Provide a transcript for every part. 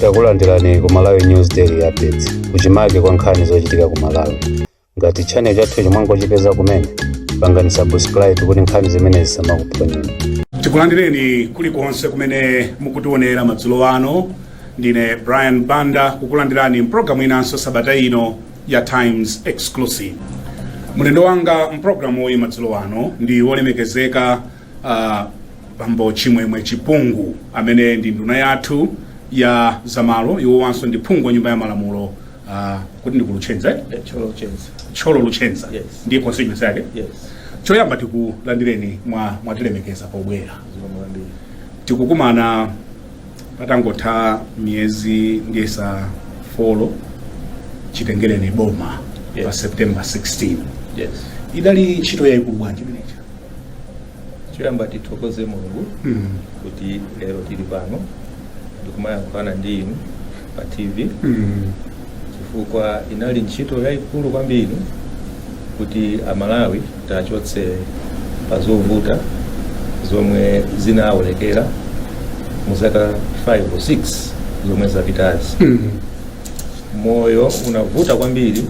takulandirani ku malawi news daily updates kuchimake kwa nkhani zochitika ku malawi ngati channel chathu mwangochipeza kumene pangani subscribe kuti nkhani zimenezi zisamakuphonyeni tikulandireni kulikonse kumene mukutionera madzulo ano ndine brian banda kukulandirani mpulogalamu inanso sabata ino ya times exclusive mlendo wanga mpulogalamu uyi madzulo ano ndi wolemekezeka uh, bambo chimwemwe chipungu amene ndi nduna yathu ya zamalo iwowanso ndi phungu wa nyumba ya malamulo uh, ku Thyolo Luchenza eh? Eh, Thyolo Luchenza. Thyolo Luchenza Yes. ndi constituency yake Yes. choyamba tikulandireni mwa mwatilemekeza pobwera Zikomo kwambiri. tikukumana patangotha miyezi ndiyesa four chitengereni boma Yes. pa september 16 Yes. idali ntchito yayikulu bwanji imeneja choyamba tithokoze mulungu Mm. kuti lero tili pano ndikumayankhulana ndi inu pa tv Mm. chifukwa inali ntchito yayikulu kwambiri kuti amalawi tiachotse pa zovuta zomwe zinaonekera mu zaka 5 or 6 zomwe zapitazi Mm. moyo unavuta kwambiri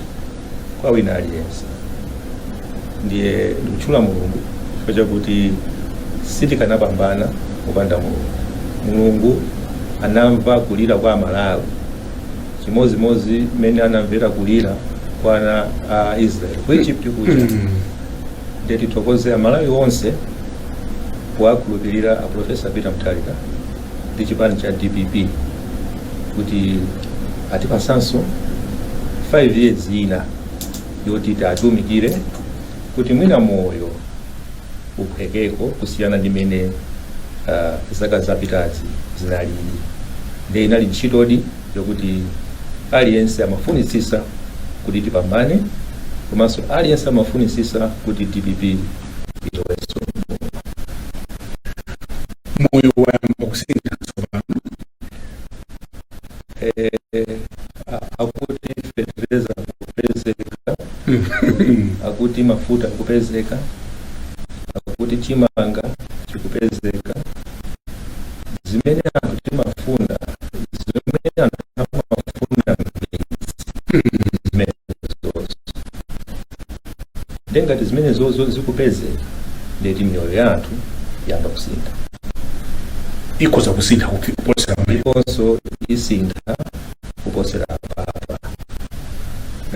kwa wina aliyense ndiye ndikutchula mulungu chifukwa chakuti sitikanapambana kupanda mulungu mulungu anamva kulira kwa amalawi chimodzimodzi mmene anamvera kulira kwa ana a israeli ku egypt kuja ndiye tithokoze amalawi onse powakhulupirira a profesa peter mutharika ndi chipani cha dpp kuti atipasanso 5 years ina yoti tiatumikire kuti mwina moyo uphwekeko kusiyana ndi mene uh, zaka zapitazi zinalili nde inali ntchitodi yokuti aliyense amafunitsisa kuti tipambane komanso aliyense amafunitsisa kuti dpp iloweso moyo wayamba kusintha tsopano eh, a- akuti fetereza akupezeka akuti mafuta akupezeka akuti chimanga chikupezeka zimene anthutu amafuna zimene anthu amafuna zimenezozo nde ngati zimenezozo zikupezeka ndeti miyoyo ya anthu yayamba kusintha ikhoza kusintha kupi- kuposera pamene ndiponso isintha kuposera apa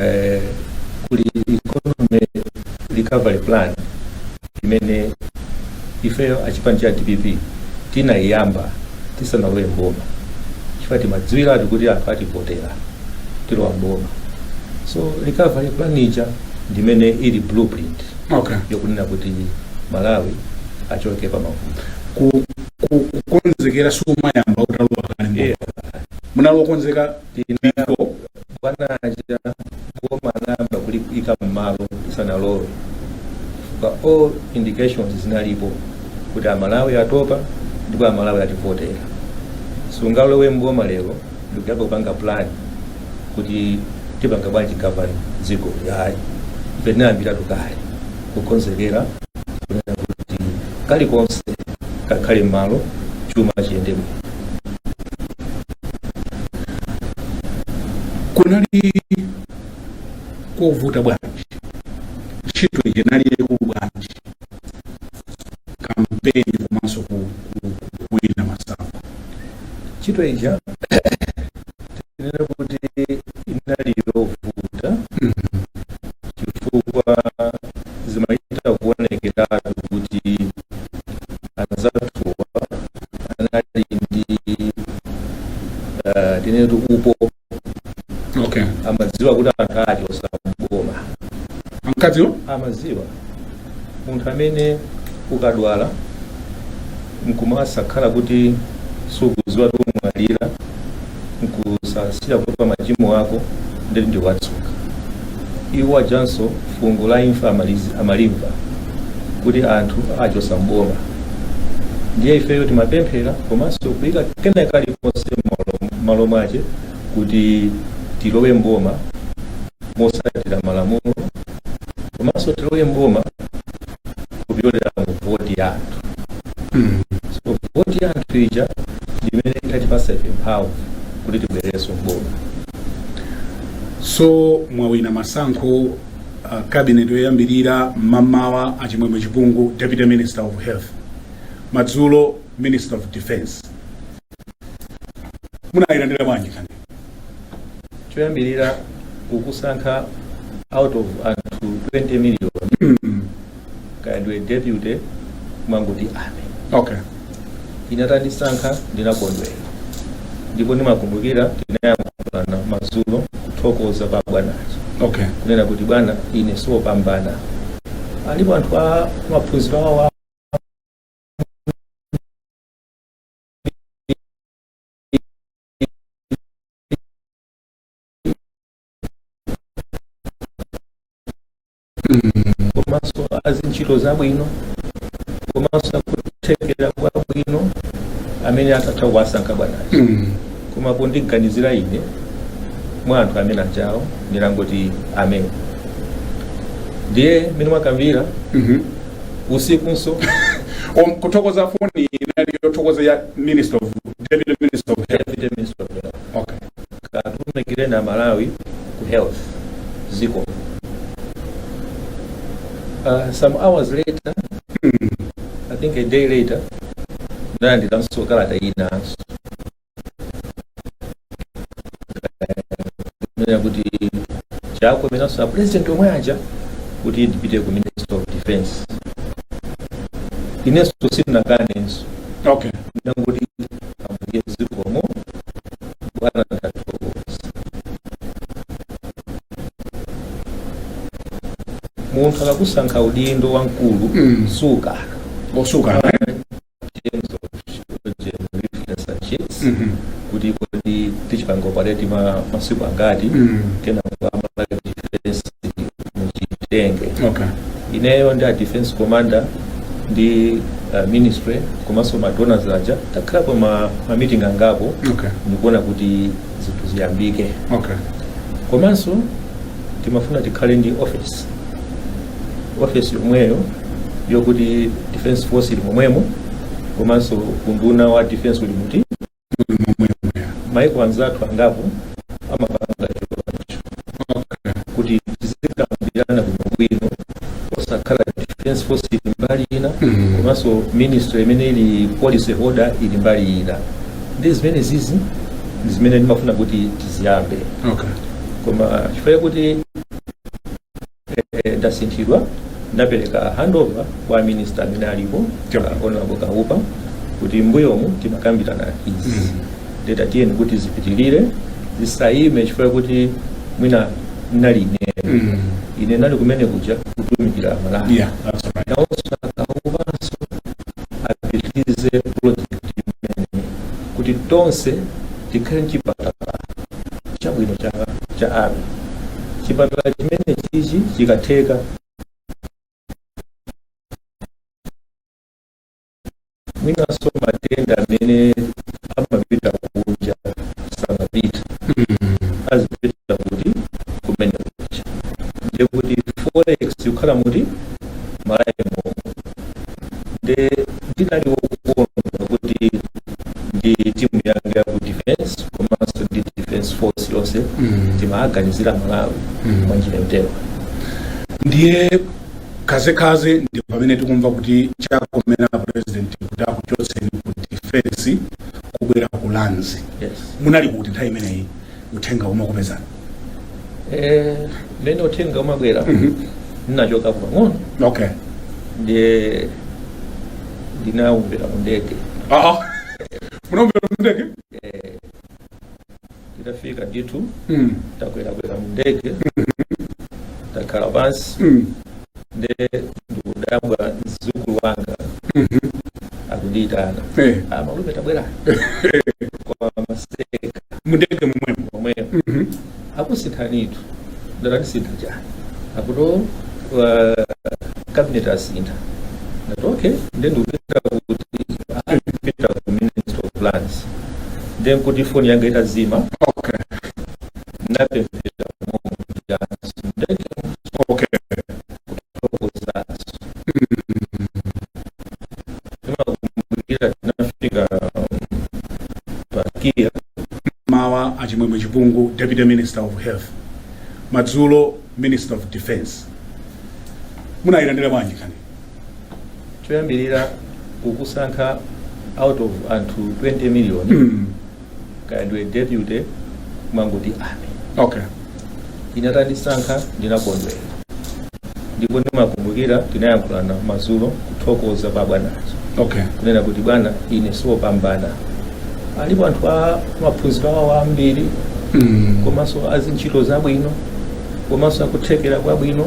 eh, kuli economy recovery plan imene ifeyo achipani cha dpp tinayiyamba tisanalowe mboma chifukwa timadziwiratu kuti anthu ativotera tilowa mboma so recovery plan ija ndimene ili blueprint okay. yakunena kuti malawi achoke pa mavuto Ku- ku- kukonzekera siumayamba utalowa kale mboma. munali okonzeka before bwanaja boma anayamba kulipika mmalo isanalowe pa all indications zinalipo kuti amalawi atopa ndipo amalawi ativotera sungalowe mboma lero ndikukayamba kupanga plan kuti tipanga bwanji govern dziko yayi ife tinayambiratu kale kukonzekera kunena kuti kalikonse kakhale m'malo chuma chiyende bwino kunali kovuta bwanji ntchito ija nali yaikulu bwanji kampeni komanso ku- ku- kuwina masankho ntchito ija tinene kuti inali yovuta chifukwa zimachita kuonekeratu kuti anzathuwa anali ndi eh, tinene kuti upo okay amadziwa kuti anthu ake osakugoma ankadziwa amaziwa munthu amene ukadwala nkumasakhala kuti sukuziwa kuti umwalira nkusasiya kuti pa machimo ako ndithu ndiwatsuka Iwo ajanso fungo la imfa amali- amalimva kuti anthu awachosa mboma ndiye ifeyo timapemphera komanso kuyika kena kalikonse mmalo- mmalo mwache kuti tilowe mboma mosatira malamulo komanso tilowe mboma kupyolera mu voti ya anthu so voti ya anthu ija ndi imene ikutipasa ife mphamvu kuti tibwererenso mboma so mwawina masankho uh, cabinet yoyambirira mmamawa achimwemwe chipungu deputy minister of health madzulo minister of defense munayilandira bwanji nkhani choyambirira kukusankha out of anthu 20 million kaya ndiwe deputy kumangoti amen okay inatandisankha ndinakondwera ndipo ndimakumbukira tinayankhulana madzulo kuthokoza pa bwanazo okay kunena kuti bwana ine siwopambana alipo anthu a maphunziro awo komanso azintchito zabwino komanso akuthekera kwabwino amene akatha kuwasankha bwanayo Mm. koma kundiganizira ine mwa anthu amene achawo ndinangoti amen ndiye mmene mwakambira Mhm. usikunso Om- kuthokoza foni inali yothokoza ya minister of deputy minister of health Deputy Minister of Health. okay katumikireni amalawi ku health ziko uh, some hours later i think a day later nalandiranso kalata inanso kunena kuti chakomeranso apurezidenti omwe aja kuti ndipite ku ministry of defense inenso sindinakanenso okay ndinangoti ambuye zikomo bwana ndathokoza munthu akakusankha udindo wamkulu Mm. sukana osukana terms of working in reference and sheets Mhm. kuti kodi tichipanga operate ma masiku angati Mm. kenaka ya malawi defense muchitenge okay ineyo ndi a defense commander ndi uh, ministry komanso ma donors aja takhalapo ma, ma meeting angapo okay n'kuona kuti zinthu ziyambike okay komanso timafuna tikhale ndi office ofesi yomweyo yokuti defense force ili momwemo komanso unduna wa defense uli mmoti maiko anzathu angapo amapanga choncho kuti tizikambirana bwinobwino osakhala defense force ili mbali ina Mhm. komanso ministry imene ili policy holder ili mbali ina ndi zimene zizi ndi zimene ndimafuna kuti tiziyambe okay koma chifukwa kuti eh, ndasinthidwa ndapereka handover kwa minista amene alipo uh, honorable kawupa kuti mbuyomu timakambirana izi mm -hmm. ndati tiyeni kuti zipitirire zisayime chifukwa kuti mwina nali ine mm -hmm. ine ndinali kumene kuja kutumikira amalawi yeah, that's right. nawonso akawupanso apitirize project imene kuti tonse tikhale nchipatala chabwino cha cha abe chipatala chimene chichi chikatheka mwinanso matenda amene amapita kunja samapita azipitira kuti kumene kuja ndiye kuti forex yokhala mmalawi momo nde ndidali wokondwa kuti ndi timu yanga ya ku defense komanso ndi defense force yonse Mm. timaganizira malawi Mm. mwa njira yotero ndiye khazekhaze ndi pamene tikumva kuti chakomera apresident kuti akuchotseni ku defense kubwera ku lands yes. munali kuti nthawi imeneyi uthenga umakupezani Eh, mmene uthenga umabwera Mhm. ndinachoka pang'ono okay ndiye ndinaumvera mu ndege aa munaumvera mu ndege nditafika ndithu Mm, ndakwerakwera mu ndege ndakhala pansi mm, nde ndikudabwa mzukulu wanga akundiyitana Eh. ah, amalume tabwerani amaseka mundege mumwemo momwemo akusinthanitu ndati andisintha chani akuti uh, cabinet asintha ndati okay nde ndikupita kuti ah, ndikupita ku ministry of lands nde nkuti foni yanga itazima okay ndapemphera momujanso ndati amen okay kuthokozanso timakumbukira tinafika pa kia mmawa achimwemwe chipungu deputy minister of health madzulo minister of defense munayilandira bwanji nkhani choyambirira kukusankha out of anthu 20 million mm. kaya ndiwe deputy kumangoti amen okay ine atandisankha ndinakondwera ndipo ndimakumbukira tinayankhulana madzulo kuthokoza kwa bwana okay kunena kuti bwana ine siwopambana alipo anthu a maphunziro awo ambiri mm. komanso azintchito zabwino komanso akuthekera kwabwino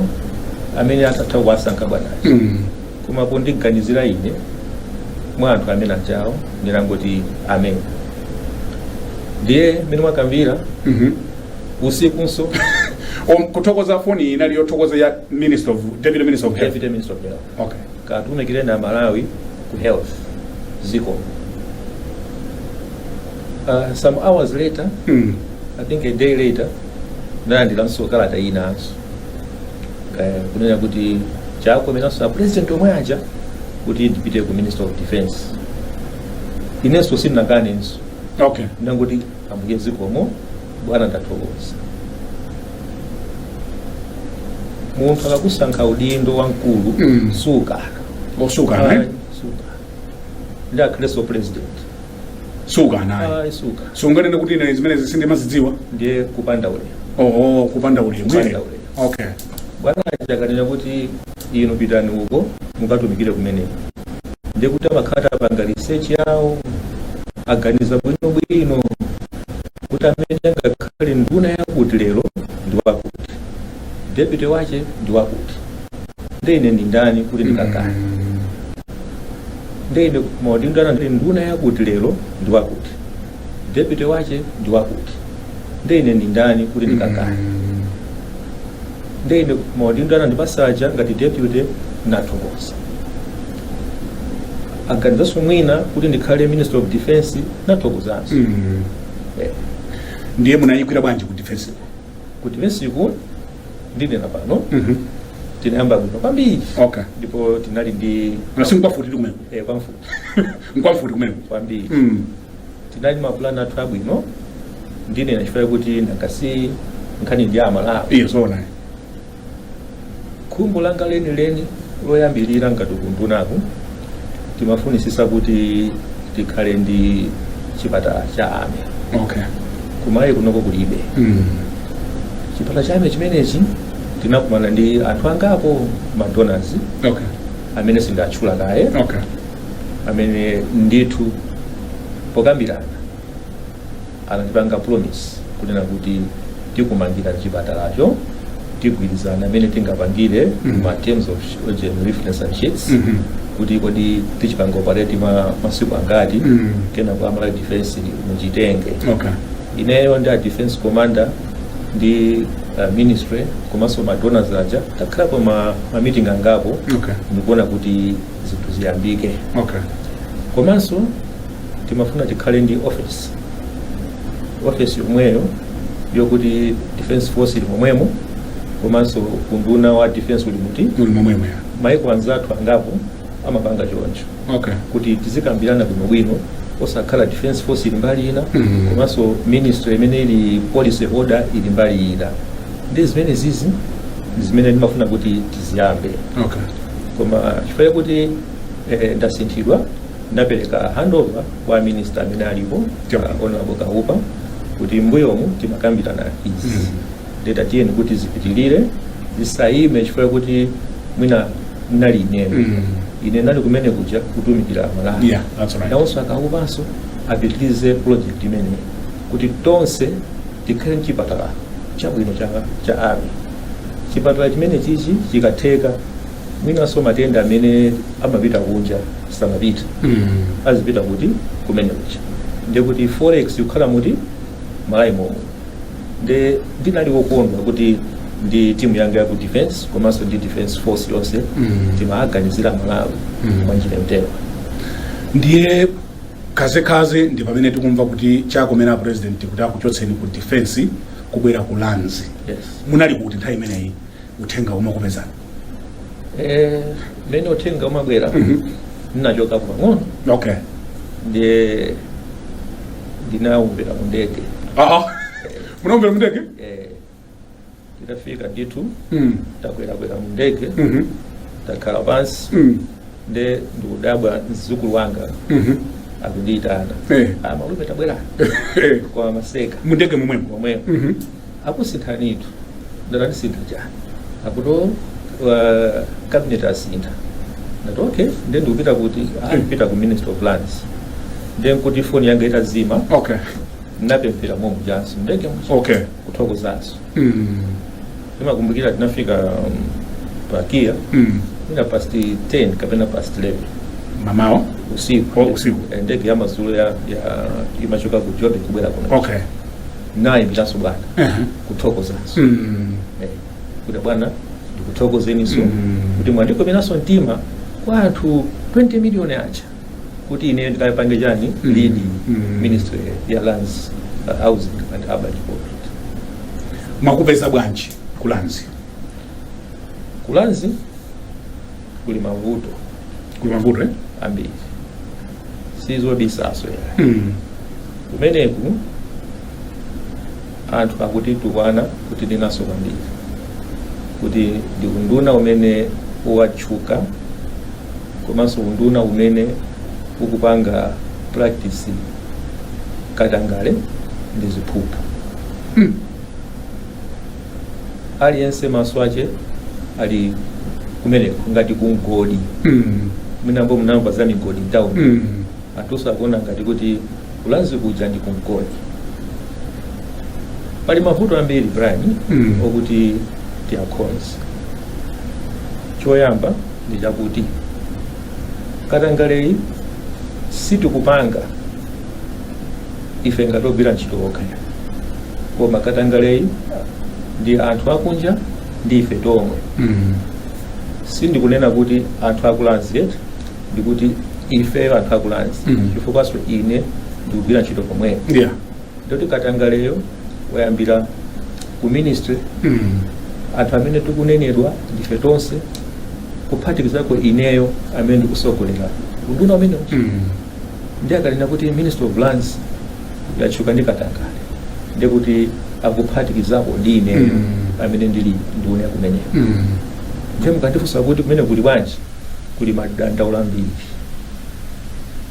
amene akanatha kuwasankha bwana mm. koma pondiganizira ine mwa anthu amene aja ndinangoti amen ndiye mmene mwakambira Mhm. usikunso Om- kuthokoza foni iyi inali yothokoza ya minister of deputy minister of health deputy minister of health okay katumikireni aMalawi ku health ziko uh, some hours later mm. i think a day later ndinalandiranso kalata inanso eh, kunena kuti Chakwera yemwenso apresident omwe aja kuti ndipite ku minister of defense inenso sindinakanenso okay ndinangoti ambuye zikomo bwana ndathokoza munthu akakusankha udindo wamkulu Mm. sukana osukana eh? sukana ndi akhristu president suka anayi ayi suka sunganene kuti ine zimenezi sindimazidziwa ndiye kupanda ulemu oho kupanda ulemu Kupanda ine. ulemu. okay bwana akanena kuti inu pitani uko mukatumikire kumeneko ndiye kuti amakhala atapanga research yawo aganiza bwinobwino kuti amene angakhale nduna yakuti lero ndi wakuti deputy wache ndi wakuti ndiye ine ndi ndani kuti ndikakane nde ine maudindo nduna yakuti lero ndi wakuti deputy wache ndi wakuti nde ine ndi ndani kuti ndikakane nde ine maudindo anandipatsa aja ngati deputy ndathokoza aganizanso mwina kuti ndikhale minister of defense ndathokozanso Eh, ndiye munayikwera bwanji ku defense ku defenseku ndinena pano Mhm. tinayamba bwino kwambiri Okay. ndipo tinali ndi Koma si nkwamfuti kumene. eh, kwamfuti Nkwamfuti kumene. kwambiri Mm. tinali ndi mapulani athu abwino ndinene chifukwa chakuti n'takhala nkhani ndi ya aMalawi Iye zoona. khumbo langa lenileni loyambirira ngati ku undunaku timafunitsitsa kuti tikhale ndi chipatala cha army okay ku Malawi kunoko kulibe mm. chipatala cha army chimenechi tinakumana ndi anthu angapo madonors okay amene sindatchula kaye okay amene ndithu pokambirana anatipanga promise kunena kuti tikumangirani chipatalacho tigwirizane mmene tingapangire Mhm. ma terms of oxygen reference and sheets Mhm. kuti kodi tichipanga operate masiku angati Mhm. kenako a Malawi defense muchitenge okay ineyo ndi a defense commander ndi uh, ministry komanso ma donors aja takhalapo ma, ma meeting angapo okay ndi kuona kuti zinthu ziyambike okay komanso timafuna tikhale ndi office office yomweyo yokuti defense force ili momwemo komanso unduna wa defense uli muti muli momwemo ya maiko anzathu angapo amapanga choncho okay kuti tizikambirana bwinobwino osakhala defense force ili mbali ina Mhm. komanso ministry imene ili policy holder ili mbali ina ndi zimene zizi zimene ndimafuna kuti tiziyambe okay koma chifukwa kuti eh, ndasinthidwa ndapereka handover kwa minista amene alipo uh, honorable kaupa kuti mbuyomu timakambirana izi mm. ndiye tiyeni kuti zipitirire zisayime chifukwa kuti mwina nali ineyo mm. ine nali kumene kuja kutumikira aMalawi yeah, right. nawonso a kaupanso apitirize project imeneyi kuti tonse tikhale mchipatala chabwino cha, cha army chipatala chimene chichi chikatheka mwinanso matenda amene amapita kunja asamapite azipita kuti kumenekuja ndiye kuti forex ikukhala muti mMalawi momuno nde ndinali wokondwa kuti ndi timu yanga ya ku defense komanso ndi defense force yonse timaganizira aMalawi mwa njira yotero ndiye kadzekadze ndi pamene tikumva kuti chakomera a president kuti akuchotseni ku defense kubwera ku lands yes munali kuti nthawi imeneyi uthenga umakupezani Eh, mmene uthenga umabwera Mhm. ndinachoka pang'ono okay ndiye ndinaumvera mu ndege aa munaumvera mundege Eh, nditafika ndithu Mm. ndakwerakwera mu ndege Mhm. ndakhala pansi Mm. nde ndikudabwa mzukulu wanga Mhm. akundiyitana Eh. amalume tabwerani Eh. kwa maseka mundege mumwemo momwemo Mhm. akusinthanitu ndati andisintha chani akuti uh, cabinet asintha ndati okay nde ndikupita kuti akuti mupita ku ministry of lands nde nkuti foni yanga itazima okay ndinapemphera momwe mujanso mundege Okay. kuthokozanso Mm. Ndimakumbukira tinafika um, pa Kia Mm. ina past 10 kapena past 11 Mmamawa. usiku Oh, usiku. Eh, ndege ya madzulo ya, ya imachoka ku Joburg kubwera kuno Okay. ndinayimbiranso bwana Uh-huh. kuthokozanso Mm. Eh, kuti bwana ndikuthokozeninso Mm. kuti mwandikomeranso mtima kwa anthu 20 miliyoni aja kuti ine ndikapange chani Mm. lead Mm. ministry ya lands uh, housing and urban development mwakupeza bwanji ku lands ku lands kuli mavuto kuli mavuto eh? ambiri sizobisanso ayi mm. kumeneku anthu akutitukwana kuti zonyansa kwambiri kuti ndi unduna umene watchuka komanso unduna umene ukupanga practice katangale ndi ziphuphu aliyense maso ache ali kumeneko ngati kumgodi Mm. mwina mumamva za migodi mtauni Mm. anthunso akuona ngati kuti ku lands kuja ndi kumgodi pali mavuto ambiri brian Mm. okuti tiakonze choyamba ndi chakuti katangaleyi sitikupanga ife ngati ogwira ntchito okha koma katangaleyi ndi anthu akunja ndi ife tomwe Mm. sindikunena kuti anthu aku lands eti ndikuti ifeyo anthu aku lands Mm. chifukwanso ine ndikugwira ntchito pomwepo Yeah. ndiye kuti katangaleyo wayambira ku ministry anthu amene tikunenedwa ndife tonse kuphatikizako ineyo amene ndikusogolera unduna umenewo ndi akanena kuti ministry of lands yatchuka ndi katangale ndi kuti akuphatikizapo ndi ineyo Mm. amene ndili nduna kumeneko ndiye mukandifunsa kuti kumeneko kuli bwanji kuli madandaulo ambiri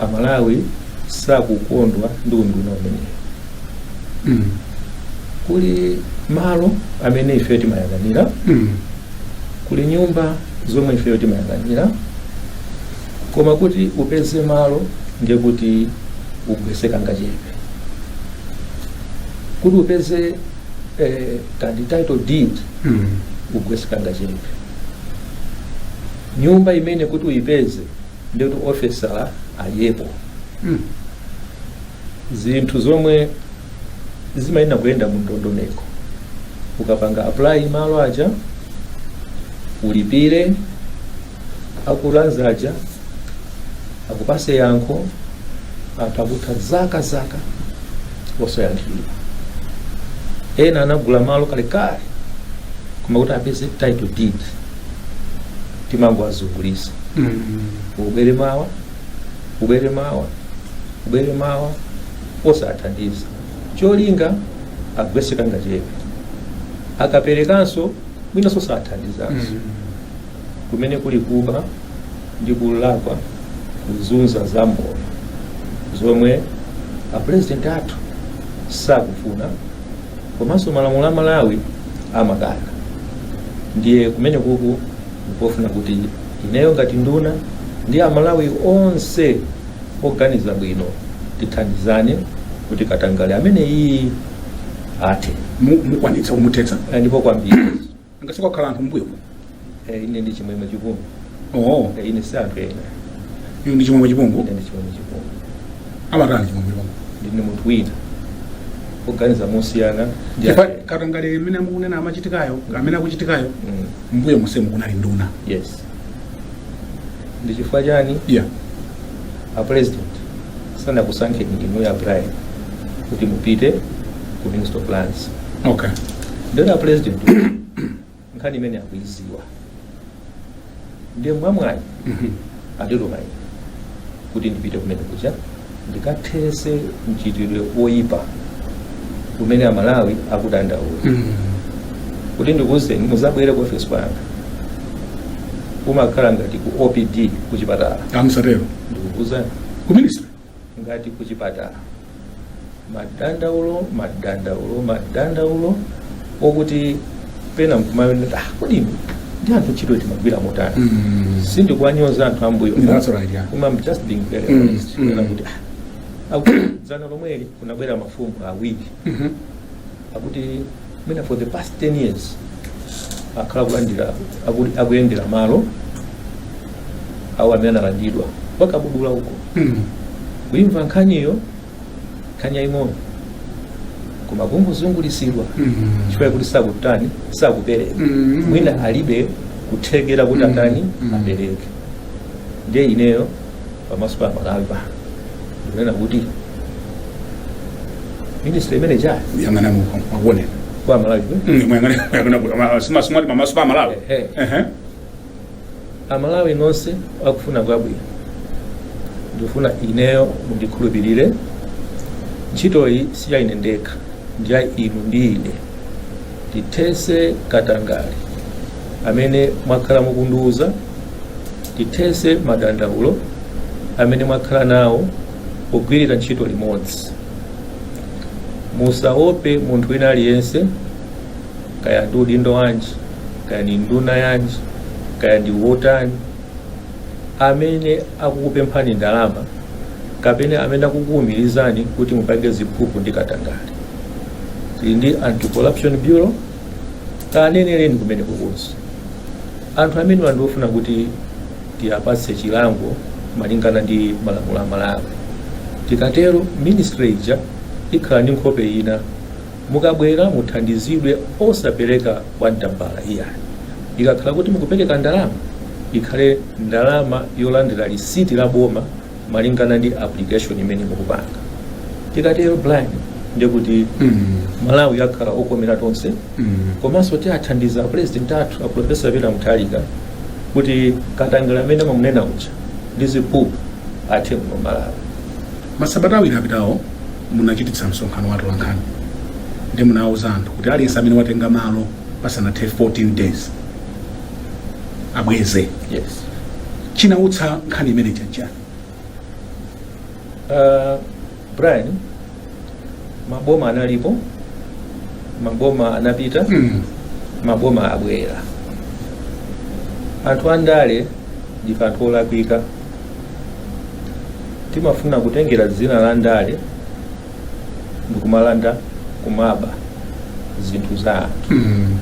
amalawi sakukondwa ndi unduna umenewu Mm. kuli malo amene ifeyo timayang'anira Mm. kuli nyumba zomwe ifeyo timayang'anira koma kuti upeze malo ndiye kuti ugwese kangachepe kuti upeze eh, kandi title deed Mm. ugwese kangachepe nyumba imene kuti uyipeze ndiye kuti officer adyepo Mm. zinthu zomwe zimayenera kuyenda mu ndondomeko ukapanga apply malo aja ulipire aku lands aja akupase yankho anthu akutha zaka zaka osayankhidwa ena anagula malo kalekale koma kuti apeze title deed timangowazungulisa ubwere mawa ubwere mawa ubwere mawa osathandiza cholinga agwese kangachepe akaperekanso mwinanso sathandizanso kumeneko kuli kuba ndi kulakwa kuzunza mzika zomwe zomwe apurezidenti athu sakufuna komanso malamulo a malawi amakana ndiye kumeneko ndikufuna kuti ineyo ngati nduna ndi amalawi onse oganiza bwino tithandizane kuti katangale ameneyi athe Mu- mukwanitsa kumuthetsa Eh, ndipo kwambiri nanga sikunakhale anthu mbuyomu Eh, ine ndi chimwemwe chipungu oo Eh, ine si anthu ena inu ndi chimwemwe chipungu ine ndi chimwemwe chipungu amatani chimwemwe chipungu ndine munthu wina oganiza mosiyana ndi Chifukwa anthu ena. katangale amene mukunena amachitikayo amene akuchitikayo Mm, mbuyo monsemu kunali nduna yes ndi chifukwa chani yeah a president sanakusankheni inuyo a brian kuti mupite ku ministry of lands okay ndiye a president nkhani imene akuiziwa ndiye mwamwayi Mhm. anditumayi kuti ndipite kumene kucha ndikathese mchitidwe woyipa umene amalawi akudandaula mm. kuti ndikuwuzeni muzabwere ku office kwanga kumakhala ngati ku opd kuchipatala musatero ndikukuwuzani ku ministry ngati kuchipatala madandaulo madandaulo madandaulo okuti pena nkumawona kuti kodi anthu ntchito timagwira motani Mm. sindikuwanyoza anthu ambuyo That's right, yeah. koma I'm just being very Mm, honest mm. Kunena kuti ah, akuti dzana lomweli kunabwera mafumu awiri Mhm. akuti mwina for the past 10 years akhala kulandira aku- akuyendera malo awo amene analandidwa kwa kabudula uko Mm. kuimva nkhaniyo nkhani yaying'ono koma kungozungulisidwa chifukwa yakuti sakutani sakupereka Mm. mwina alibe kuthekera kuti Mm. atani Mm. apereke ndiye ineyo pamaso pa amalawi pano ndikunena kuti ministry imene mukuyang'ana muko akuonera kwa malawi kwe? muyang'ana simati pamaso pa malawi Ehe. Ehe. amalawi nonse akufuna kwabwino ndikufuna ineyo mundikhulupirire ntchitoyi si ya ine ndekha ndi ya inu ndi ine tithese katangale amene mwakhala mukundiwuza tithese madandaulo amene mwakhala nawo pogwirira ntchito limodzi musaope munthu wina aliyense kaya ndi udindo wanji kaya ndi nduna yanji kaya ndi wotani amene akukupemphani ndalama kapena amene akukuwumirizani kuti mupange ziphuphu ndi katangale tili ndi anti-corruption bureau kanenereni kumeneko kuti anthu amenewa ndi ofuna kuti tiwapatse chilango malingana ndi malamulo a malawi tikatero ministry ija ikhala ndi nkhope ina Mukabwera muthandizidwe osapereka kwa mtambala iyayi. Ikakhala kuti mukupereka ndalama, ikhale ndalama yolandira risiti la boma malingana ndi application imene mukupanga. Tikatero Brian ndiye kuti Malawi akhala okomera tonse komanso tiathandiza apulezidenti athu aprofesa Peter Mutharika kuti katangale amene amamunena uja ndi ziphuphu athe kuno Malawi. Masabata awiri apitawo munachititsa msonkhano wa atolankhani ndipo munawuza anthu kuti aliyense amene watenga malo pasanathe 14 days abweze yes chinawutsa nkhani imeneyi n'chiyani uh, brian maboma analipo maboma anapita mm. maboma abwera anthu andale ndife anthu olakwika timafuna kutengera dzina la ndale ndikumalanda kumaba zinthu za anthu Mm.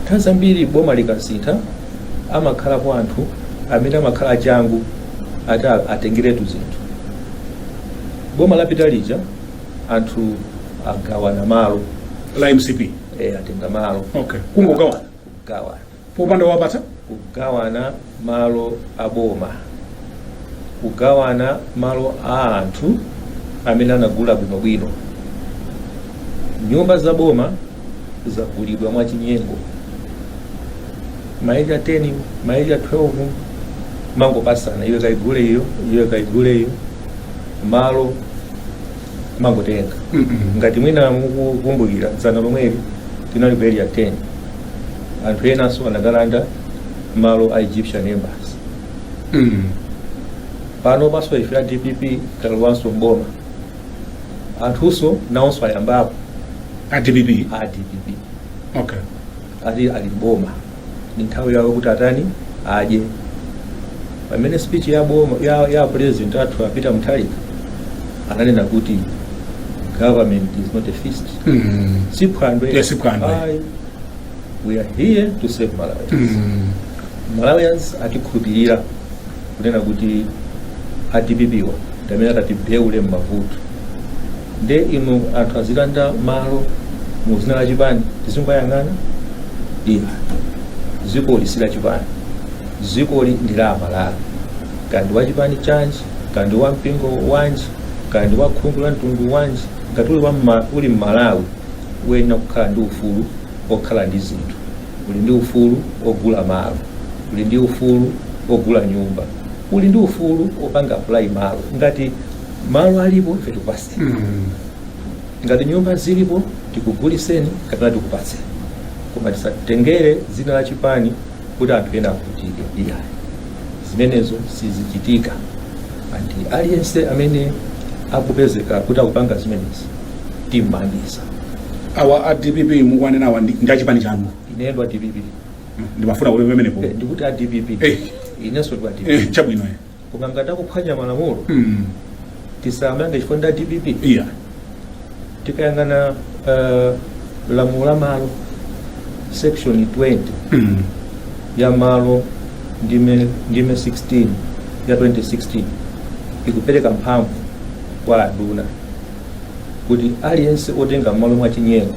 nthawi zambiri boma likasintha amakhalapo anthu amene amakhala achangu ati a- atengeretu zinthu boma lapita lija anthu agawana malo a mcp eh, atenga malo okay kungogawana kugawana popanda wowapatsa kugawana malo a boma kugawana malo a anthu amene anagula bwinobwino nyumba za boma zagulidwa mwachinyengo ma Area 10 ma Area 12 amangopatsana iwe kaigule iyo iwe kaigule iyo malo amangotenga ngati mwina mukukumbukira dzana lomweli tinali ku area 10 anthu enanso anakalanda malo a egyptian embassy Mm. pano panso ife a dpp talowanso mboma anthunso nawonso ayambapo A DPP. a dpp Okay. ati ali mboma ni nthawi yawo kuti atani adye pamene speech ya boma ya, ya president athu a Peter Mutharika ananena kuti government is not a feast Mm. si phwando Yes, si phwando. Ayi, we are here to serve malawians mm. malawians atikhulupirira kunena kuti a dpp awa ndi amene atatiwombole mmavuto nde inu anthu azilanda malo mu dzina la chipani tizingoyang'ana ayi dzikoli si la chipani dzikoli ndi la amalawi kaya ndi wa chipani chanji kaya ndi wa mpingo wanji kaya ndi wa khungu la mtundu wanji ngati uli wa mma- uli mmalawi wayenera kukhala ndi ufulu okhala ndi zinthu, uli ndi ufulu ogula malo, uli ndi ufulu ogula nyumba, uli ndi ufulu opanga apply malo. Ngati malo alipo ife tikupaseni, Mm. ngati nyumba zilipo tikuguliseni kapena tikupatseni, koma tisatengere dzina la chipani kuti anthu ena avutike iyayi zimenezo sizichitika and aliyense amene akapezeka kuti akupanga zimenezi timangitsa awa a dpp mukwanena awa ndi ndi achipani chanu ine ndi wa dpp ndimafuna kuti pamenepo Eh, ndikuti a dpp Eh. inenso ndikuti a dpp eh, chabwino eh. koma ngati akuphwanya malamulo Mm. tisamange chifukwa ndi a dpp iyayi tikayang'ana eh, lamulo la malo section 20 Mm. ya malo ndime ndime 16 ya 2016 ikupereka mphamvu kwa anduna kuti aliyense otenga malo mwa chinyengo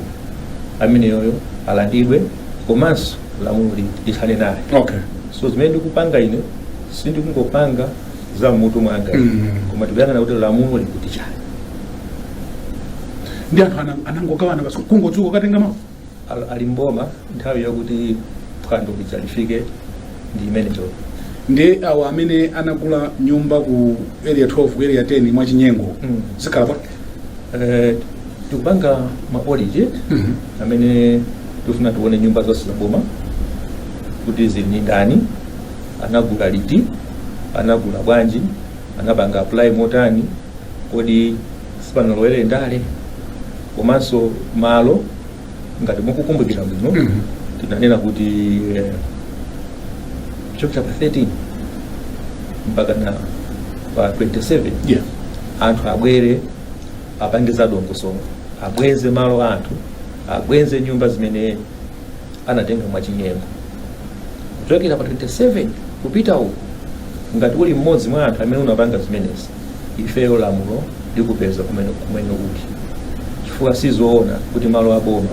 ameneyoyo alandidwe komanso lamulo li- lithane naye okay so zimene ndikupanga ine sindikungopanga za mmutu mwanga Mm. koma tikuyang'ana kuti lamulo likuti chani ndi anthu ana- anangogawana basi kungodzuka kukatenga malo Al- ali mboma nthawi yakuti phwando lija lifike ndi imeneyo ndiye awo amene anagula nyumba ku area 12 ku area 10 mwachinyengo Mm. zikhala bwanji Eh, tikupanga ma audit Mhm. amene tifuna tione nyumba zonse za boma kuti zili ndi ndani anagula liti, anagula bwanji, anapanga apply motani, kodi sipanalowere ndale komanso malo ngati mukukumbukira bwino Mhm. tinanena kuti eh, kuchokera pa 13 mpaka na pa 27 Yeah. anthu abwere apange zadongosolo abweze malo anthu abweze nyumba zimene anatenga mwachinyengo kuchokera pa 27 kupita uku ngati uli mmodzi mwa anthu amene unapanga zimenezi ifeyo lamulo likupeza kumene kumene uli chifukwa sizoona kuti malo aboma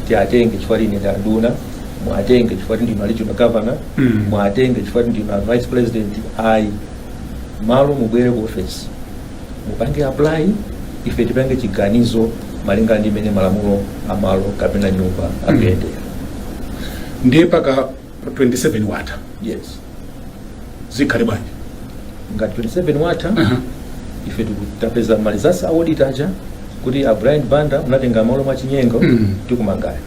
tiatenge chifukwa choti ine ndi anduna muatenge chifukwa kuti ndinu regional governor Mm. muatenge chifukwa kuti ndinu vice president ayi malo mubwere ku office mupange apply ife tipange chiganizo malinga ndi mmene malamulo a malo kapena nyumba akuyendera ndiye mpaka 27 watha yes zikhala bwanji ngati 27 watha Aha. ife tiku- tapeza malinga ndi audit ija kuti a brian banda munatenga malo mwa chinyengo Mm. tikumangani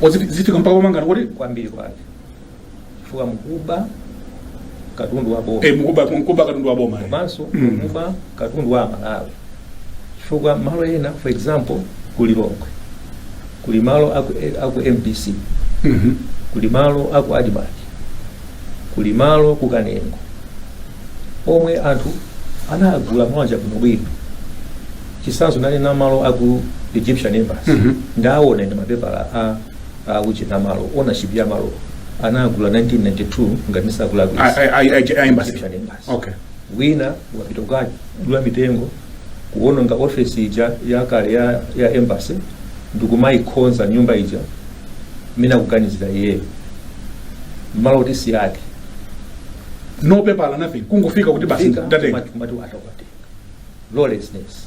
O, ziti- zifika mpaka pomangana eti kwambiri kwake chifukwa mukuba katundu wa boma Eh, mukuba mukuba katundu wa boma. eh. komanso Mm. mukuba katundu wa amalawi chifukwa malo ena for example ku lilongwe kuli malo aku, eh, aku mbc Mhm. kuli malo aku admarc kuli malo ku kanengo omwe anthu anagula mawanja bwinobwino chisanzo nanena malo aku egyptian embassy Mhm. ndaawona ndi mapepala a akuchena malo ownership ya malo anagula 1992 ngati ndisakulakwisa A- a- a- a- a- embassy. Kuchita ndi embassy. Okay. wina ukapita kukadula mitengo kuononga ofesi ija yakale ya, ya embassy ndikumayikhonza nyumba ija mmene akuganizira iyeyo mmalo kuti si ake No paper, nothing. Kungofika kuti basi Fika, ndatenga. kumati- kumati atakutenga lawlessness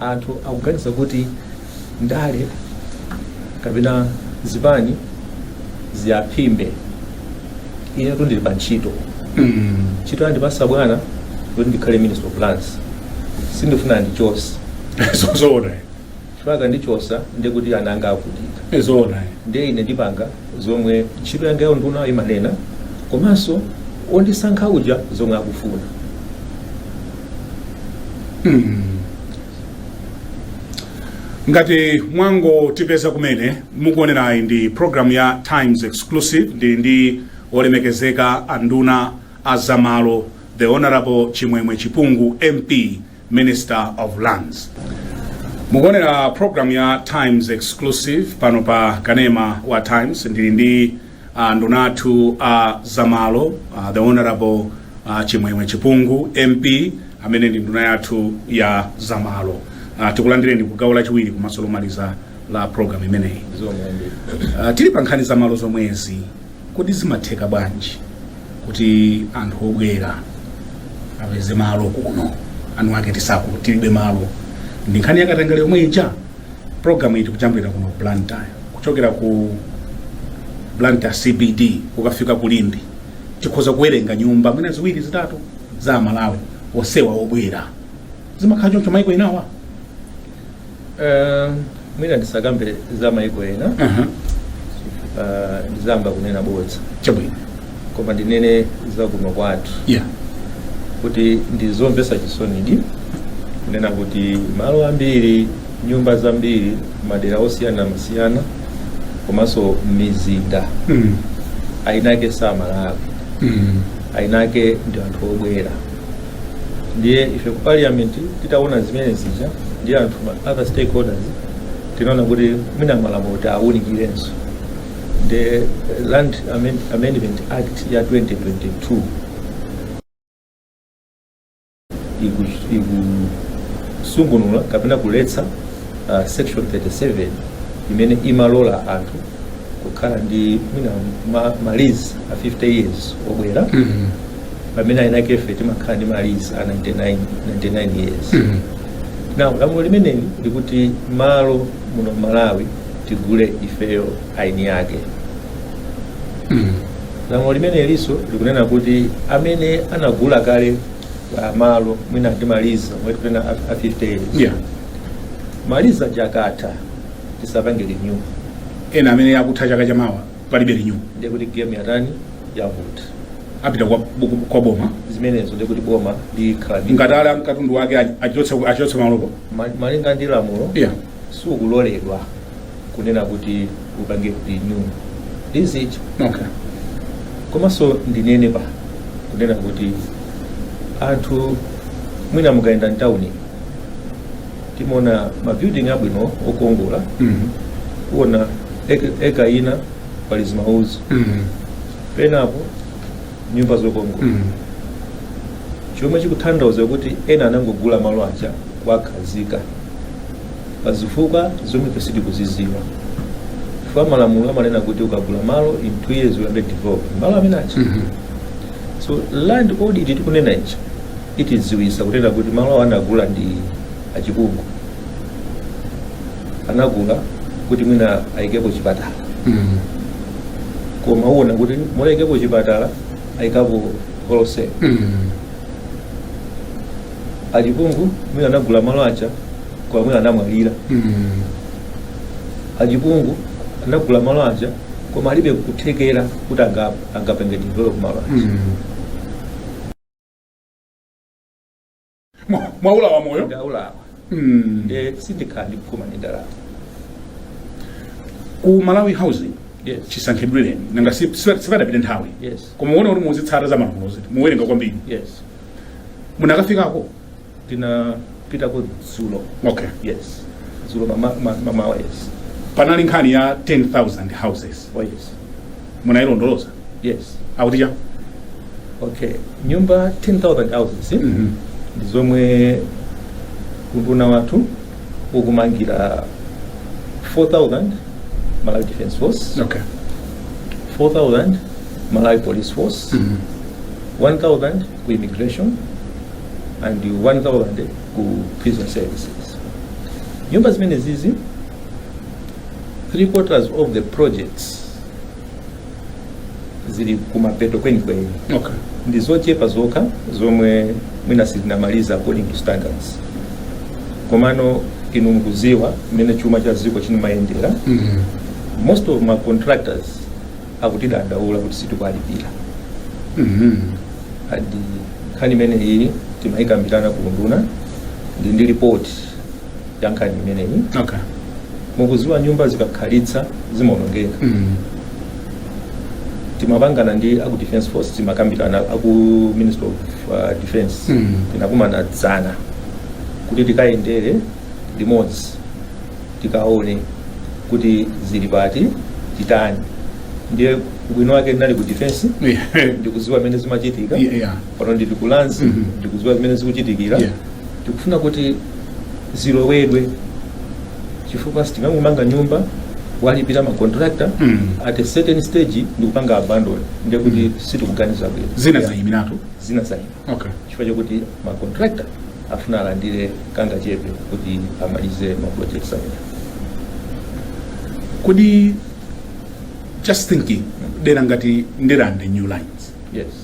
Anthu akuganiza kuti ndale kapena zipani ziyaphimbe. Inetu ndili pa ntchito. Ntchito yandipasa bwana kuti ndikhale minister of lands. Sindifuna andichotse. zoona Chifukwa akandichotsa ndiye kuti ana anga avutika. zoona ndiye ine ndipanga zomwe ntchito yangayo ya unduna imanena komanso ondisankha uja zomwe akufuna mm. ngati mwangotipeza kumene mukuonerayi ndi programu ya times exclusive ndili ndi olemekezeka anduna a zamalo the honorable chimwemwe chipungu mp minister of lands mukuonera programu ya times exclusive pano pa kanema wa times ndili ndi a nduna athu a zamalo uh, the honorable uh, chimwemwe chipungu mp amene ndi nduna yathu ya zamalo uh, tikulandireni ku gawo lachiwiri komanso lomaliza la program imeneyi uh, tili pa nkhani zamalo zomwezi kodi zimatheka bwanji kuti anthu obwera apeze malo kuno eni ake tisaku tilibe malo ndi nkhani ya katangale yomwe ija Program iyi tikujambulira kuno ku Blantyre kuchokera ku Blantyre CBD ukafika ku Limbe tikhoza kuwerenga nyumba mwina ziwiri zitatu za Amalawi onsewa obwera zimakhala choncho maiko enawa Eh, mwina ndisakambe za maiko ena uh-huh. eh, ndizayamba kunena bodza chabwino koma ndinene za kuno kwathu yeah. kuti ndi zomvetsa chisonidi kunena kuti malo ambiri nyumba zambiri madera osiyanasiyana komanso mizinda mm. ayinake si Amalawi mm. ayinake ndi anthu obwera ndiye ife ku parliament titaona zimene zija ndi anthu ma other stakeholders tinaona kuti mwina malamulo tiawunikirenso the Land Amend- Amendment Act ya 2022 iku- ikusungunula kapena kuletsa uh, section 37 imene imalola anthu kukhala ndi mwina ma, ma lease a 50 years obwera Mhm. pamene ayinake ife timakhala ndi ma lease a 99, 99 years Mhm. now lamulo limeneli likuti malo muno malawi tigule ifeyo aini ake lamulo limeneliso likunena kuti amene anagula kale ah, malo mwina ndi ma lease omwe tikunena a- a 50 years yeah ma lease aja akatha tisapange renew ena amene akutha chaka chamawa palibe renew ndiye kuti game yatani yavuta apita kwa, kwa boma zimenezo ndiye kuti boma likhala ndi- ngati ali ndi katundu wake achotse achotse malopo Ma- malinga ndi lamulo yeah sukuloledwa kunena kuti upange renew lease Okay. komanso ndinene pa kunena kuti anthu mwina mukayenda mtawuni timaona mabuilding abwino okongola Mhm. kuona ek- ekala ina pali zimaudzu Mhm. penapo nyumba zokongola Mhm. chomwe chikuthandauza kuti ena anangogula malo aja kuwakhazika pa zifukwa zomwe ife sitikuziziwa chifukwa malamulo amanena kuti ukagula malo in two years uyambe develop malo amene aja so land audit tikunena ija itidziwisa kunena kuti malo awo anagula ndi achiujeni anagula kuti mwina ayikepo chipatala koma uona kuti m'malo oikapo chipatala ayika ku koloseo achiujeni mwina anagula malo aja koma mwina anamwalira achiujeni anagula malo aja koma alibe kuthekera kuti anga- angapange develop malo aja Mwa- mwaulawa moyo ndaulawa Mm. nde sindikhala ndikupuma ndi ndalama ku malawi housing yes chisankhidwireni nanga si- si- sipanapite nthawi yes koma muone kuti mukuzitsata za malamulozi muwerenga kwambiri yes munakafikako ndinapitako dzulo okay yes dzulo mama- ma- mamawa yes panali nkhani ya 10000 houses oh yes munayilondoloza yes akuti chani okay nyumba 10000 houses Mhm. ndi zomwe unduna wathu ukumangira 4000 malawi defense force okay 4000 malawi police force Mhm. 1000 ku immigration and 1000 ku prison services nyumba zimenezizi three quarters of the projects zili kumapeto kwenikweni okay ndi zochepa zokha zomwe mwina sitinamaliza according to standards komano inu mukuziwa mmene chuma cha dziko chinamayendera mm. most of ma contractors akutidandaula kuti sitikwalipira mm. and nkhani imene iyi timayikambirana ku unduna ndi ndi report yankhani imeneyi okay mukuziwa nyumba zikakhalitsa zimaonongeka mm. timapangana ndi aku defense force timakambirana aku ministry of uh, defense Mm. tinakumana dzana kuti tikayendere limodzi tikaone kuti zili pati titani ndiye ubwino wake ndinali ku defense yeah. ndikuziwa zimene zimachitika Yeah, yeah. pano ndili ku lands Mhm. ndikuziwa zimene zikuchitika Yeah. tikufuna kuti zilowedwe chifukwa sitingangomanga nyumba kuwalipira ma contractor mm. at a certain stage ndikupanga abandon ndiye kuti mm. sitikuganiza bwino zina zayimiratu zina zayima okay. chifukwa chakuti ma contractor afuna alandire kangachepe kuti amalize ma projects amene kodi just thinking mm. dera ngati ndirande new lines yes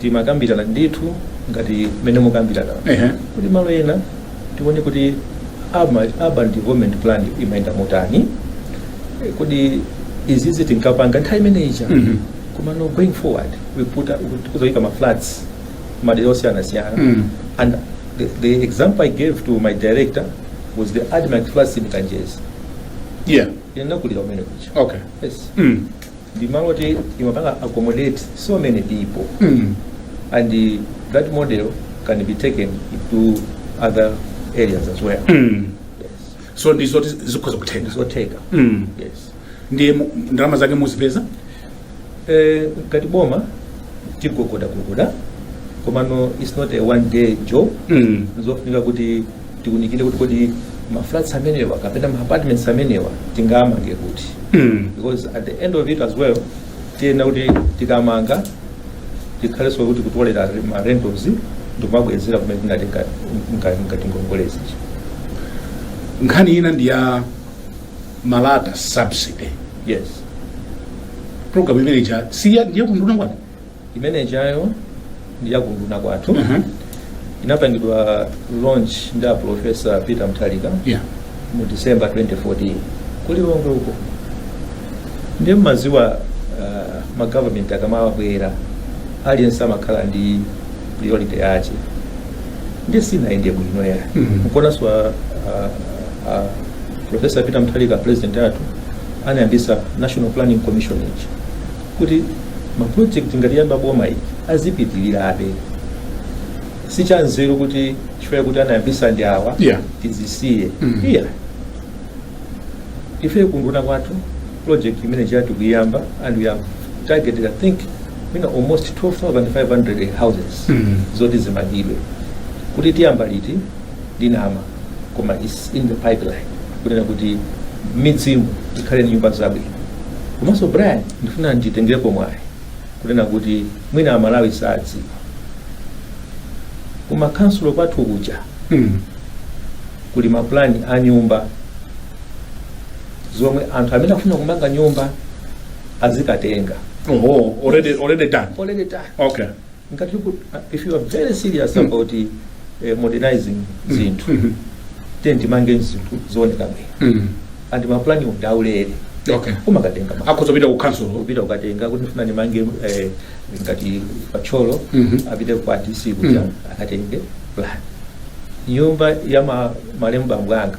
timakambirana ndithu ngati mmene mukukambiramo Ehe. kodi malo ena tione kuti urban urban development plan ikuyenda motani Eh, kuti izizi tinkapanga nthawi imene ija Mhm. koma no going forward we put up- we- tikuzaika ma flats madera osiyanasiyana Mm. and the, the example i gave to my director was the admarc flats in kanjedza Yeah. ine ndinakulira kumene kuja Okay. yes Mm. ndi malo oti imapanga accommodate so many people mm. and uh, that model can be taken to other areas as well mm. yes. so ndizoti zikhoza kutheka nzotheka mm. yes nde ndalama zake muzipeza Eh, ngati boma tigogodagogoda komano it's not a one day job mm. zofunika kuti tiunikire kuti kodi ma flats amenewa kapena ma apartments amenewa tingamange kuti Mm. because at the end of it as well tiyenera kuti tikamanga tikhalenso tikutolera ma rentals ndikumabwezera kumene tinali nga- nga- ngati ngongolezi nkhani ina ndi ya malata subsidy yes program imene ija siya ndi ya ku unduna kwanu imene ijayo ndi ya ku unduna kwathu Aha. inapangidwa launch ndi a profesa peter mutharika Yeah. mu december 2014 ku lilongwe uko ndiye mmaziwa uh, magovernment akamabwera aliyense amakhala ndi priority yake ndiye sinayende bwino ya Mhm. komanso a, a, a profesa peter mutharika president athu anayambisa national planning commission ija kuti ma project ngati yayamba boma ili azipitirirabe si chanzeru kuti chifukwa kuti anayambisa ndi awa Yeah. tizisiye Mm. iya ife ku unduna kwathu project imene ija tikuyamba and we have targeted i think mwina almost 12500 houses Mm. zoti zimangidwe kuti tiyamba liti ndinama koma is in the pipeline kunena kuti midzimu ikhale ndi nyumba zabwino komanso brian ndifuna nditengerepo mwayi kunena kuti mwina amalawi sadziwa koma ku khansulo kwathu kuja Mm. kuli mapulani a nyumba zomwe anthu amene akufuna kumanga nyumba azikatenga Oho, already already done. oleleta Okay. ngati tiku- uh, if you are very serious about eh, modernizing zinthu Mhm. then timange zinthu zooneka bwino Mm. and mapulani ndi aulere okay umakatenga ma- akhoza kupita ku council kupita kukatenga kuti ndifuna ndimange eh, ngati pa thyolo Mhm. apite kwa dc kuja Mhm. akatenge plan nyumba ya ma- malemu bambo anga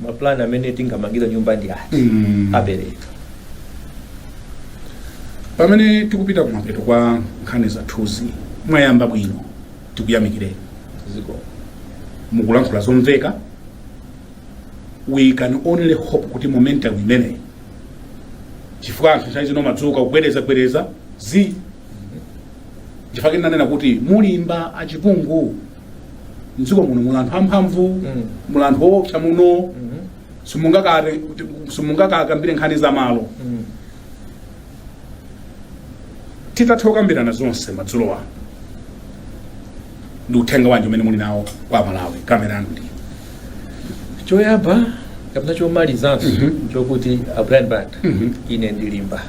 ma plan amene tingamangira nyumba ndi ati Mm. apereka pamene tikupita kumapeto kwa nkhani zathuzi mwayamba bwino tikuyamikireni ziko mukulankhula zomveka we can only hope kuti momentum imeneyi chifukwa anthu nthawi zino ndadzuka kubwereza bwereza zi chifukwa kunena kuti mulimba achipungu mdziko muno muli anthu amphamvu Mm. muli anthu oopsa muno Mhm. simungaka kuti- simungakakambire nkhani za malo Mm. titatha kukambirana zonse madzulo ano ndi uthenga wanji umene muli nawo kwa amalawi kamera yanu ndi choyamba kapena chomalizanso chokuti a brian banda Mhm. ine ndilimba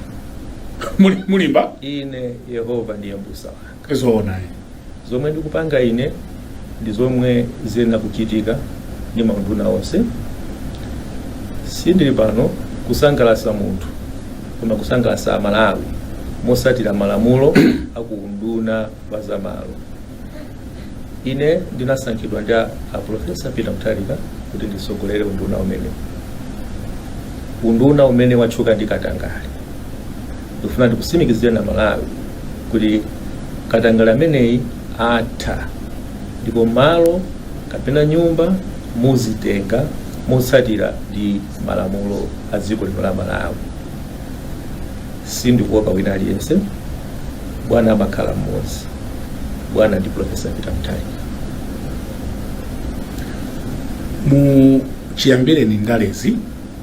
Muli- mulimba ine yehova ndiye mbusa wanga zoona eh? zomwe ndikupanga ine ndi zomwe ziyenera kuchitika ndi maunduna onse sindili pano kusangalatsa munthu koma kusangalatsa amalawi motsatira malamulo a ku unduna wa zamalo ine ndinasankhidwa ndi a a profesa peter mutharika kuti nditsogolere unduna umene unduna umene watchuka ndi katangale ndikufuna ndikutsimikizireni a malawi kuti katangale ameneyi atha ndipo malo kapena nyumba muzitenga motsatira ndi malamulo a dziko lino la malawi sindikuopa wina aliyense bwana amakhala mmodzi bwana ndi profesa peter mutharika mu chiyambireni ndalezi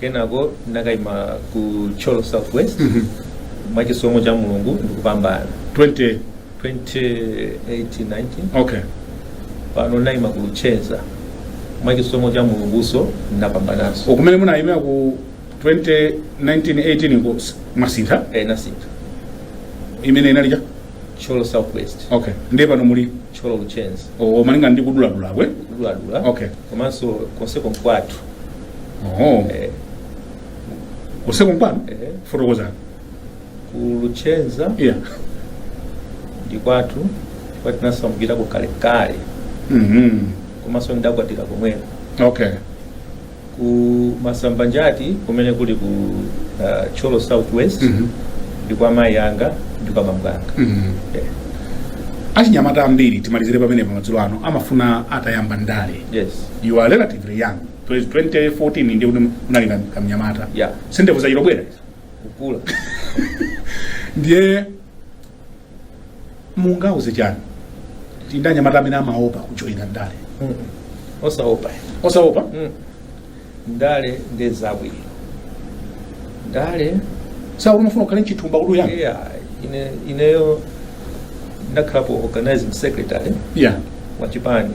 kenako ndinakaima ku thyolo south west mwa chisomo cha mulungu ndikupambana 20 2018-19 okay pano ndayima ku luchenza mwa chisomo cha mulunguso ndapambananso ukumene munayimira ku 2019 18 ko s- mwasintha eh, ndasintha imene inali cha thyolo south west okay ndiye pano muli thyolo luchenza o- o malinga ndi kuduladulakwe kuduladula Okay. komanso konseko nkwathu Oh. Eh, usiku mpano eh, fotokozani ku luchenza yeah ndi kwathu kwa tinasamukirako kalekale Mhm. komanso ndidakwatira komweko okay ku masambanjati kumene kuli ku uh, thyolo southwest Mhm. ndi kwa mayi anga ndi kwa bambo anga Mhm. Eh, achinyamata ambiri timalizire pamenepo madzulo ano amafuna atayamba ndale yes you are relatively young Please, 2014 ndiye kuti munali kam- kamnyamata Yeah. si ndevu zachita bwera kukula ndiye mungauze chani achinyamata amene amaopa kujoyina ndale Mm. osaopa osaopa Mm. ndale ndi zabwino ndale sikuti imafuna ukhale nchithumba kuti uyani yeah, ine, ineyo ndakhalapo organizing secretary yeah. wa chipani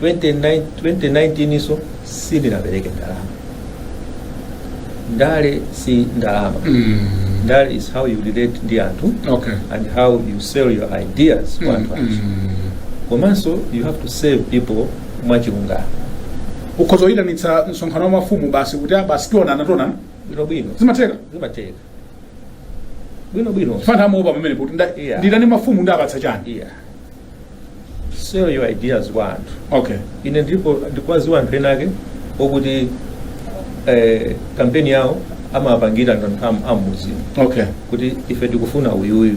29 2019 so sindinapereke ndalama ndale si ndalama Mm. ndale is how you relate ndi anthu Okay. and how you sell your ideas kwa anthu achi Mm. komanso you have to serve people mwachilungamo ukhoza kuyitanitsa msonkhano wa mafumu basi kuti "Ah, basi tionana tionana bwinobwino zimatheka zimatheka bwino bwino fana amaopa pamenepo kuti nda- Yeah. nditani mafumu ndiwapatsa chani yeah sell your ideas kwa anthu okay ine ndipo ndikwaziwa anthu ena ake okuti eh, kampeni yawo amapangira anthu am- ammuzi okay kuti ife tikufuna uyuyu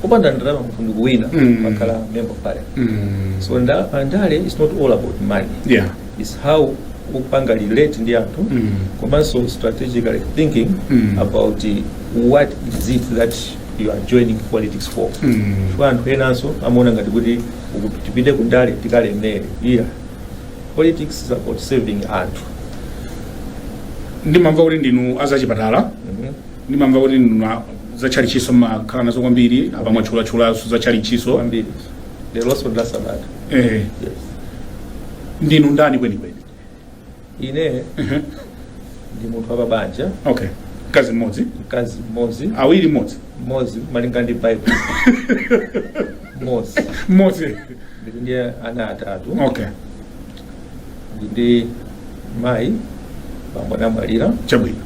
kupanda ndalama munthu ndikuwina Mm. amakhala member of parliament mm. so nda- ndale is not all about money yeah is how kupanga relate ndi anthu mm. komanso strategically thinking mm. about what is it that you are joining politics for mm. chifukwa anthu enanso amaona ngati kuti tipite kundale tikalemere yeah politics is about serving anthu ndimamva kuti ndinu azachipatala mm -hmm. ndimamva kuti ndinu zatchalitchinso mumakhala nazo kwambiri apa mwatchulatchulanso zatchalitchinso leronso ndi la sabata eh, yes. ndinu ndani kwenikweni ine Ehe. ndi munthu wapabanja okay mkazi mmodzi mkazi mmodzi awiri mmodzi mmodzi malinga ndi bible mmodzi mmodzi ndili ndi ana atatu okay ndili ndi mayi bambo anamwalira chabwino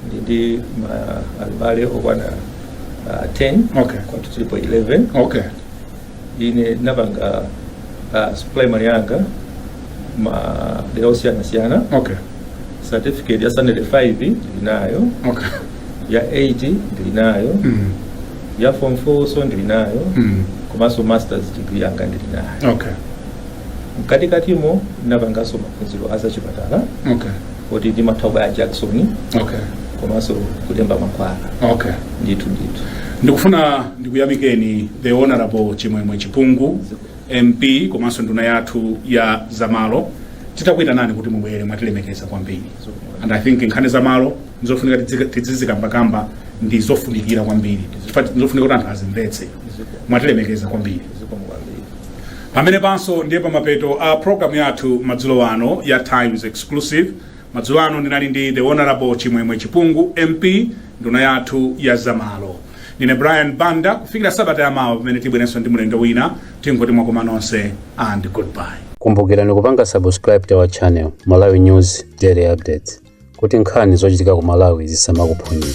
ndili ndi abale okwana ah, 10 Okay. kwathu tilipo 11 okay ine napanga uh, primary yanga ma dera osiyana siyana okay certificate ya standard 5 ndilinayo okay ya 8 ndilinayo mm. ya form 4nso ndilinayo mm. komanso masters degree yanga ndilinayo okay mkatikatimo napanganso maphunziro azachipatala okay kuti ndimatha kubaya jakisoni okay komanso kulemba mankhwala okay ndithu ndithu ndikufuna ndikuyamikeni the honorable chimwemwe chipungu mp komanso nduna yathu ya zamalo titakuyitanani kuti mubwere mwatilemekeza kwambiri and i think nkhani zamalo ndizofunika tidzizikambakamba ndi zofunikira kwambiri Chifukwa ndizofunika kuti anthu azimvetse mwatilemekeza kwambiri zikomo kwambiri pamenepanso ndiye pamapeto a programu yathu madzulo ano ya times exclusive madzulo ano ndinali ndi the honorable chimwemwe chipungu mp nduna yathu ya zamalo ndine brian banda kufikira sabata yamawa pamene tibwerenso ndi mlendo wina tingoti mwakoma nonse and goodbye kumbukirani kupanga subscribe to our channel malawi news daily updates kuti nkhani zochitika ku malawi zisamakuphonyeni